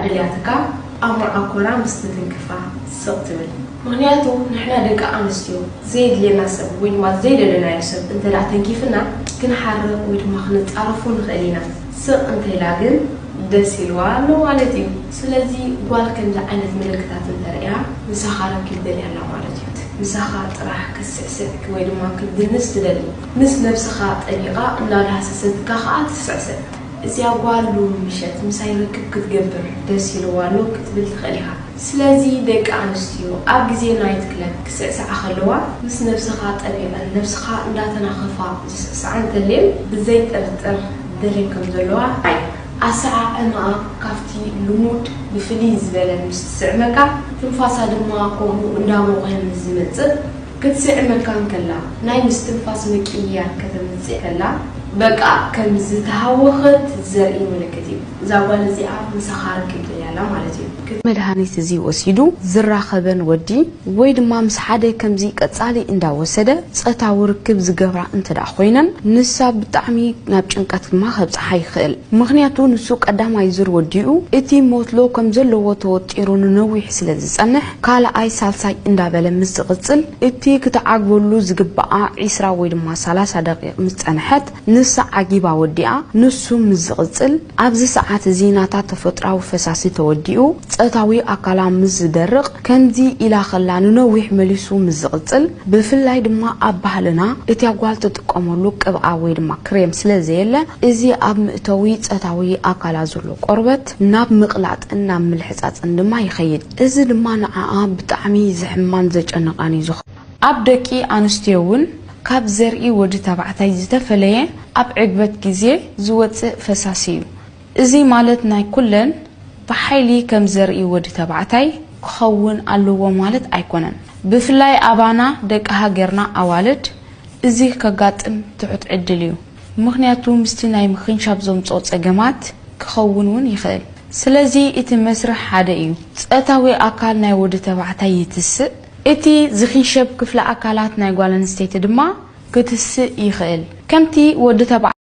ድልያትካ ኣብ መርዓ ኮራ ምስ ትትንክፋ ስቅ ትብል ምክንያቱ ንሕና ደቂ ኣንስትዮ ዘየድልየና ሰብ ወይ ድማ ዘይደለናዮ ሰብ እንተ ተንኪፍና ክንሓርቅ ወይ ድማ ክንጻረፎ ንክእል ኢና ስቅ እንተ ኢላ ግን ደስ ኢልዋ ኣሎ ማለት እዩ ስለዚ ጓል ከምዚ ዓይነት ምልክታት እንተ ርእያ ምሳካ ርክብ ደልያ ኣላ ማለት እዩ ምሳካ ጥራሕ ክትስዕስዕ ወይ ድማ ክትድንስ ትደሊ ምስ ነብስካ ጠቢቃ እናዳህሰሰትካ ከኣ ትስዕስዕ እዚኣ ጓል ሎሚ ምሸት ምሳይ ርክብ ክትገብር ደስ ኢልዋ ኣሎ ክትብል ትኽእል ኢኻ። ስለዚ ደቂ ኣንስትዮ ኣብ ግዜ ናይት ክለብ ክስዕስዓ ከለዋ ምስ ነብስኻ ጠቢቐን ነብስኻ እንዳተናኸፋ ዝስዕስዓ እንተልየን ብዘይ ጥርጥር ደልየን ከም ዘለዋ ርኣይ። ኣሰዓዕማኣ ካብቲ ልሙድ ብፍልይ ዝበለ ምስ ትስዕመካ ትንፋሳ ድማ ከምኡ እንዳሞቐ ምስ ዝመጽእ፣ ክትስዕመካ እንከላ፣ ናይ ምስትንፋስ ምቅይያር ከተምጽእ ከላ፣ በቃ ከም ዝተሃወኸት ዘርኢ ምልክት እዩ። እዛ ጓል እዚኣ ምሳኻ ርክብ ደልያ ኣላ ማለት እዩ። መድሃኒት እዚ ወሲዱ ዝራኸበን ወዲ ወይ ድማ ምስ ሓደ ከምዚ ቀጻሊ እንዳ ወሰደ ጸታዊ ርክብ ዝገብራ እንተድኣ ኮይነን፣ ንሳ ብጣዕሚ ናብ ጭንቀት ድማ ከብጽሓ ይኽእል። ምኽንያቱ ንሱ ቀዳማይ ዙር ወዲኡ እቲ ሞትሎ ከም ዘለዎ ተወጢሩ ንነዊሕ ስለ ዝጸንሕ፣ ካልኣይ ሳልሳይ እንዳበለ ምስ ዝቕጽል እቲ ክትዓግበሉ ዝግብኣ ዕስራ ወይ ድማ ሰላሳ ደቒቕ ምስ ጸንሐት ንሳ ዓጊባ ወዲኣ ንሱ ምስ ዝቕጽል ኣብዚ ሰዓት እዚ ናታ ተፈጥራዊ ፈሳሲ ተወዲኡ ጸታዊ ኣካላ ምስ ዝደርቕ ከምዚ ኢላ ከላ ንነዊሕ መሊሱ ምስ ዝቕጽል ብፍላይ ድማ ኣብ ባህልና እቲያ ጓል ትጥቀመሉ ቅብኣ ወይ ድማ ክሬም ስለ ዘየለ እዚ ኣብ ምእተዊ ጸታዊ ኣካላ ዘሎ ቆርበት ናብ ምቕላጥን ናብ ምልሕጻጽን ድማ ይኸይድ። እዚ ድማ ንዓኣ ብጣዕሚ ዘሕምማን ዘጨንቓን እዩ ዝኾ። ኣብ ደቂ ኣንስትዮ እውን ካብ ዘርኢ ወዲ ተባዕታይ ዝተፈለየ ኣብ ዕግበት ግዜ ዝወጽእ ፈሳሲ እዩ። እዚ ማለት ናይ ኩለን ብሓይሊ ከም ዘርኢ ወዲ ተባዕታይ ክኸውን ኣለዎ ማለት ኣይኮነን። ብፍላይ ኣባና ደቂ ሃገርና ኣዋልድ እዚ ከጋጥም ትሑት ዕድል እዩ። ምኽንያቱ ምስቲ ናይ ምኽንሻብ ዘምጽኦ ጸገማት ክኸውን እውን ይኽእል። ስለዚ እቲ መስርሕ ሓደ እዩ። ጸታዊ ኣካል ናይ ወዲ ተባዕታይ ይትስእ፣ እቲ ዝኽንሸብ ክፍለ ኣካላት ናይ ጓል ኣንስተይቲ ድማ ክትስእ ይኽእል። ከምቲ ወዲ ተባዕታይ።